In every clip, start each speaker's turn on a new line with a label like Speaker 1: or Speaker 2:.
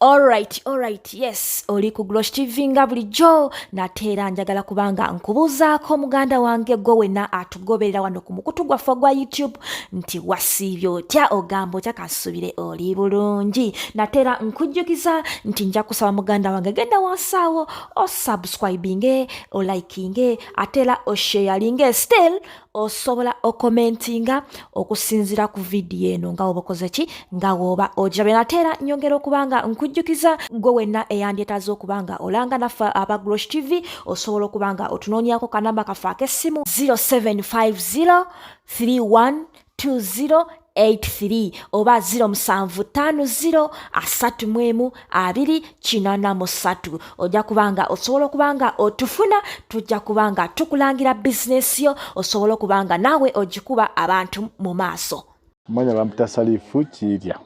Speaker 1: Alright, alright, yes, oli ku Glosh TV nga bulijjo nate era njagala kubanga nkubuuzaako muganda wange gwe wenna atugoberera wano ku mukutu gwaffe ogwa YouTube nti wasiibye otya ogamba otya kasubire oli bulungi nate era nkujjukiza nti nja kusaba muganda wange genda wansaawo osubscribinge olikinge ate era osheyalinge still osobola okomentinga okusinzira ku vidiyo eno nga woba okoze ki nga woba ogirabe nate era nyongera okuba nga nkujjukiza gwe wenna eyandyetaaza okuba nga olanga naffe aba grosh tv osobola okuba nga otunoonyako kanamba kaffe ak'essimu 0750 31 20 83 oba 0750 asatu mwemu abiri kinana musatu ojja kubanga osobola okubanga otufuna tujja kubanga tukulangira bizinesi yo osobola okubanga naawe ogikuba abantu mu maaso manya bampita
Speaker 2: salifu kirya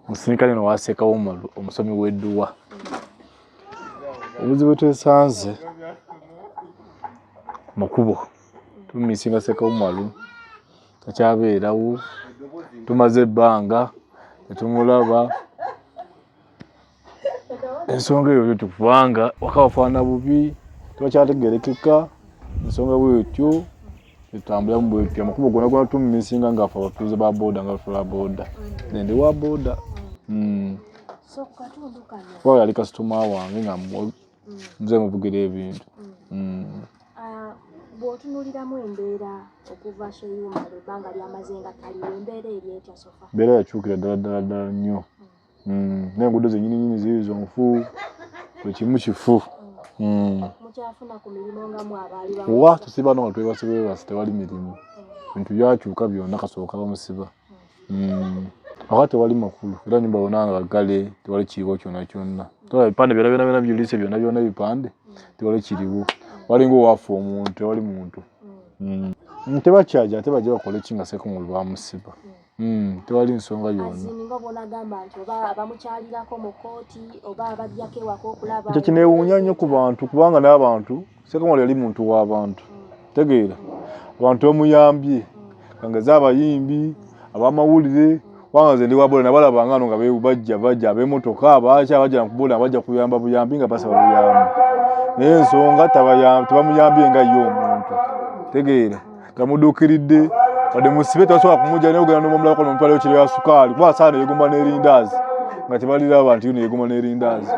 Speaker 2: musirikale no wasekawo omusomi weduwa obuzibu twesanze mukubo tumisinga sekawumalu takyabeerawo tumaze ebbanga tetumulaba ensonga eyo bwetyo kubanga waka wafaana bubi tebakyategerekeka ensonga bwetyo etambulamu bwetyo amakubo gona gona tumisinga ngaafe abatuuze ba boda nga batula boda nende wa boda hmm.
Speaker 1: wali kasitoma
Speaker 2: wange nga nze muvugira ebintu
Speaker 1: bwotunuliramu embeera okuva seyuma ebanga lyamaze nga taliwo embeera eri etya sofa mbeera yakyukira ddala
Speaker 2: ddala ddala nnyo naye enguudo zenyini nyini ziri zonfu buli kimu kifu
Speaker 1: wa tusiba no nga
Speaker 2: twebasibwebasi tewali mirimu bintu byakyuka byona kasooka bamusiba mm. aka tewali makulu era nyumba yona nga gale tewali kiriwo kyona kyonna tola bipande byona byona byona byulise byona byona ebipande tewali kiriwo walinga owafa omuntu tewali muntu mm. mm, tebakyaja ate baja bakola eki nga seku mulu bamusiba mm, tewali nsonga yona ekyo kinewunya nnyo ku bantu kubanga n'abantu sekamala yali muntu w'abantu tegeera abantu bamuyambye kangeze abayimbi abamawulire kubanga nze ndi wabola nabalaba ngano nga bajja bajja abemotoka abaaki abajja nakubola abajja kuyamba buyambi nga basaba buyambi naye ensonga tebamuyambye nga ye omuntu tegeera tamuduukiridde wadde musibe tebasobola kumugya naye ogenda nomumulako nomutwalayo kiro ya sukaali kuba asaana yegumba n'erindaazi nga tebaliraba nti yuno yegumba n'erindaazi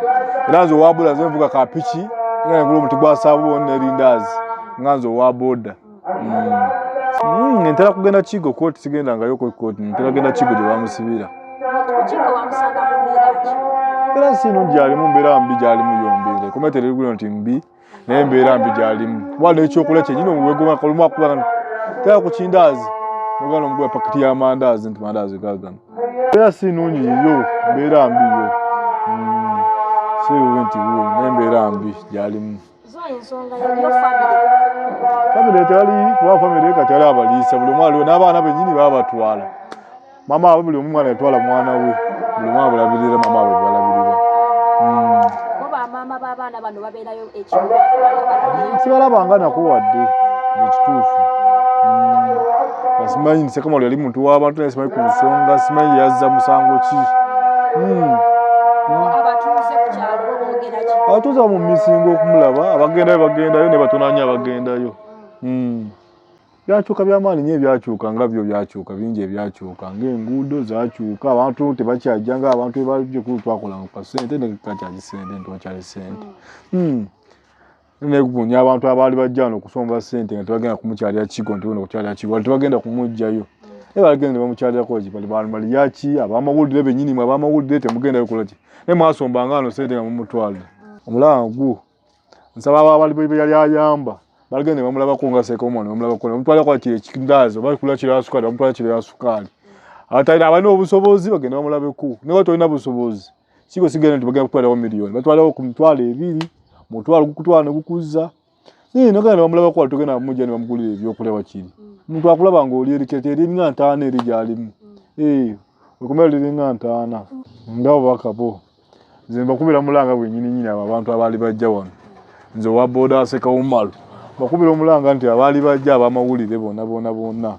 Speaker 2: era nze owabula nze nvuga kapiki nga nengula omuti gwa saabuuni n'erindaazi nga nze owa boda hmm. hmm, ntera kugenda kigo kooti sigenda ngayo kooti ntera genda kigo gye bamusibira era si nungi alimu mbeera mbi gyalimu yombi ekomete lirigulino nti mbi naye mbeera mbi gyalimu kuba nekyokulya kyenyini omuwegomakolumu akubanga tera ku kindaazi nogana omuguba pakiti y'amandaazi nti mandaazi gagano era si nungi yiyo mbeera mbi yo hmm. siwe nti wuwe naye mbeera mbi gyalimu famire tewali kuba famire kati ali abaliisa buli omu aliwo n'abaana benyini baba batwala mama waabwe buli omu mwana yatwala mwana we buli mwana bulabirira mama waabwe balabirira sibalaba nga nako wadde ekituufu hmm. simanyi nsekamalu yali muntu w'abantu naye simanyi ku nsonga simanyi yazza musango ki hmm. abatuuze bamumisinga okumulaba abagendayo bagendayo ne batonanya abagendayo hmm. byakyuka byamaanyi nyo ebyakyuka nga byo byakyuka bingi ebyakyuka ngaenguudo zakyuka abantu tebakyajja nga abantu ebalikulu twakola kasente nekakyaji sente ntiwakyali sente hmm. negunya abantu abaali bajja no okusomba sente nga tebagenda kumukyalira kigo nti bona okukyalira kigo wali tebagenda kumugjayo naye balagenda ne bamukyalirakoki bali bamaliyaki abamawulire benyini mwe abamawulire temugendayo kulaki naye mwasombanga ano sente nga mumutwalire omulaba gwo nsaba abo abali bwe yali ayamba balagenda ne bamulabako nga sekomo ne bamulabako ne bamutwala kwa kire kikindaazo bali kula kire asuka ne bamutwala kire asukaali abatayina abalina obusobozi bagenda bamulabeko ne watu olina busobozi siko sigenda nti bagenda kutwalawo miliyoni batwalawo ku mitwalo ebiri mutwalo gukutwala ne gukuzza naye nogenda ne bamulabako wali togenda bamujja ne bamugulira ebyokulya wakiri omuntu akulaba nga oli erikete eri nga ntaana eri gyalimu ee eh, okumera liringa ntaana nga obubaka bwo nze mbakubira mulanga gwenyini nyini abo abantu abaali bajja wano nze owa boda aseka umalu mbakubira omulanga nti abaali bajja abamawulire bona bona bona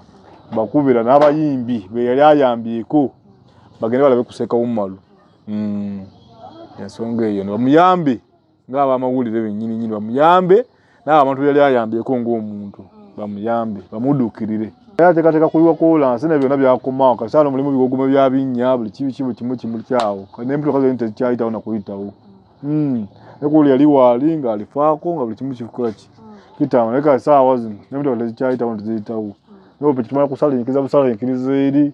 Speaker 2: mbakubira n'abayimbi beyali ayambyeko bagende balabe kuseka umalu mm. ensonga eyo nibamuyambe ng'abamawulire bennyini nyini bamuyambe naabo abantu yali ayambyeko ng'omuntu bamuyambe bamuduukirire era ateekateeka kuliwa kolansi na byonna byakomawo kasaala omulimu biwogoma bya binnya buli kibi kibu kimu kimukyawo n'empitoka zoni tezikyayitawo na kuyitawo hmm. nekuuli yali waali ng'alifaako nga buli kimu kikola ki kitama naye kasaawa zino n'empitoka tezikyayitawo teziyitawo nope kitumala kusala enkiriza busala enkiriza eri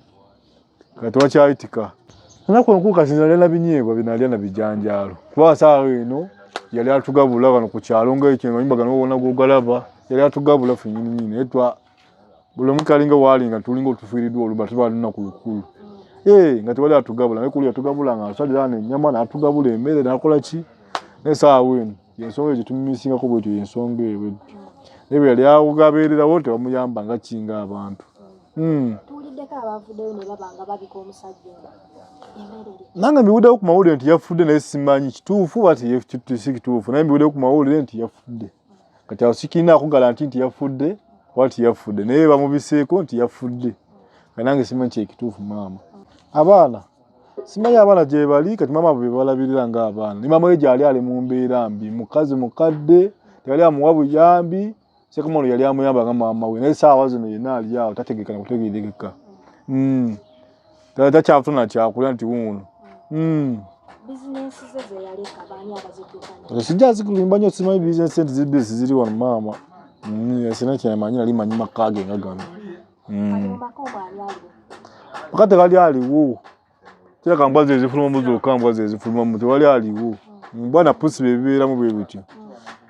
Speaker 2: kati wakyayitika anaku enkulu kati nalya na binyeebwa binalya na bijanjaalo kuba saawa eno yali atugabula kano ku kyalo ngaekyo amayumba gano wona gogalaba yali atugabula fenyininyini etwa buli omu kalinga waali nga tulinga otufiiriddwa oluba tubalina ku lukulu ee nga tewali atugabula naye kulu yatugabula nga asalira ano enyama natugabula emmere nakola ki naye saawa eno yensonga gyetumisingako bwetyo yensonga eyo bwetyo naye bweyali awuga abeererawo tebamuyamba nga kinga abantu hmm. nange mbiwuddewo ku mawulire nti yafudde naye simanyi kituufu batsi kituufu naye mbiwuddewo ku mawulire nti yafudde kati awo sikirina akugala nti nti yafudde oba ti yafudde naye bamubiseeko nti yafudde kanange simanyi kyekituufu maama abaana simanyi abaana gyebali kati maama bwe balabirira nga abaana ne maama we gyali ali mu mbeera mbi mukazi mukadde teyali amuwa buyambi sekumano yali amuyamba nga maama we naye saawa zino yena ali awo tategeka na kutegerekeka hmm. takyafuna kyakulya nti wuuno hmm. sijja zikulimba nyo simanyi bizinesi nti zibisi ziri wano maama hmm, sina kyemanyi nali manyi makage nga gano Mm. Wakati wali aliwo. Kila kambwa zezi fuluma muzo kambwa zezi fuluma muzo wali aliwo. Mm. Bwana pusi bebera mu bebityo.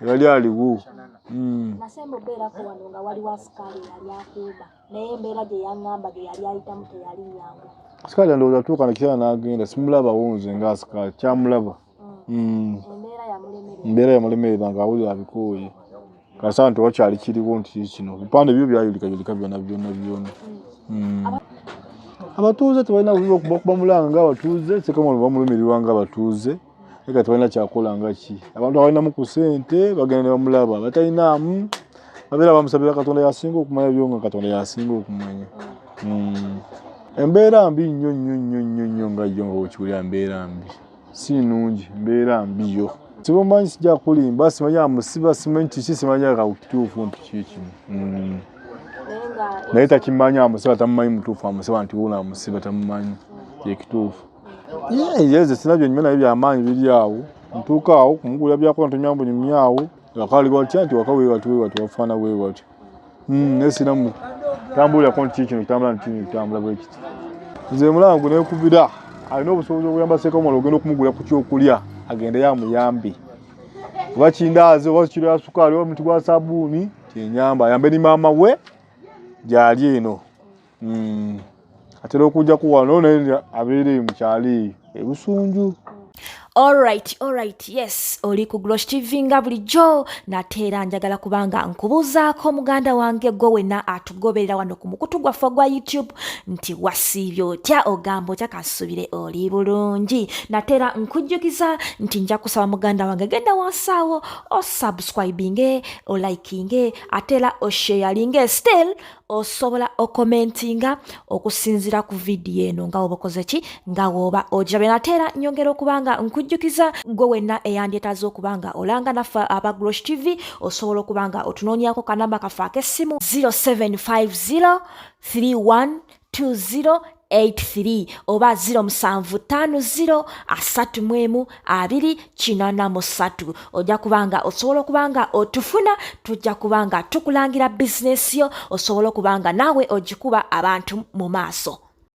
Speaker 2: Mm. Wali aliwo. Mm. Nasembo
Speaker 1: bera ko wano nga wali wasikali yali akuba. Naye mbera je yangamba ge yali ayita mute
Speaker 2: yali nyangu. Asikali ndo zatuka na kisa na agenda simulaba wonze nga asikali chamulaba. mm. embeera yamulemerera nga awulira abikooye kasaba nti wakyali kiriwo nti kino bipande byo byayulikayulika byona byona byona mm. abatuuze tebalina buzibu okubakuba mulanga nga abatuuze sekamano bamulumirirwa nga abatuuze eka tebalina kyakola nga ki abantu abalinamu ku sente bagenda ne bamulaba batalinaamu abeera bamusabira katonda yasinga okumanya byo nga katonda yasinga okumanya hmm. embeera mbi nnyo nnyo nnyo nnyo nnyo nga yo nga wekiwulira mbeera mbi si nungi mbeera mbi yo sibumanyi sijja kulimba simanyi amusiba simanyi kiki simanyi akakituufu nti kikino mm. naye takimanyi amusiba tamumanyi mutuufu amusiba nti wuno amusiba tamumanyi kyekituufu yeze sina byonyuma naye byamaanyi biri awo ntuuka awo kumugulira byakola ntomyambunyumya awo wakaliwa tya nti wakaweewatiweewati wafaana weewatyo hmm, nesiramu tambulira konti kiki kino kitambula nti kino kitambula bwekiti nze mulango nekubira alina obusobozi obuyamba sekamala ogenda okumugula ku kyokulya agendeyo amuyambe oba kindaazi oba kiro ya sukaali oba muti gwa sabuuni kyenyamba ayambe ni maama we gyali eno hmm. atera okujja kuwano naye abeera eyo mukyalo eyo ebusunju Alright,
Speaker 1: alright, yes, oli ku Glosh TV nga bulijjo nateera njagala kubanga nkubuuzaako muganda wange gwe wena atugoberera wano ku mukutu gwaffe ogwa YouTube nti wasiibye otya ogamba otya kasubire oli bulungi nateera nkujjukiza nti nja kusaba muganda wange genda wansaawo osubscribinge olikinge ateera osheyalinge still osobola okomentinga okusinzira ku vidiyo eno nga woba okoze ki nga woba ogirabye nate era nyongera okuba nga nkujjukiza gwe wenna eyandyetaaza okuba nga olanga naffe aba grosh tv osobola okuba nga otunoonyako kanamba kaffe ak'essimu 0750 31 20 83 oba 0750 ojja kubanga osobola okuba nga otufuna tujja kuba nga tukulangira bizinesi yo osobola okuba nga naawe ogikuba abantu mu maaso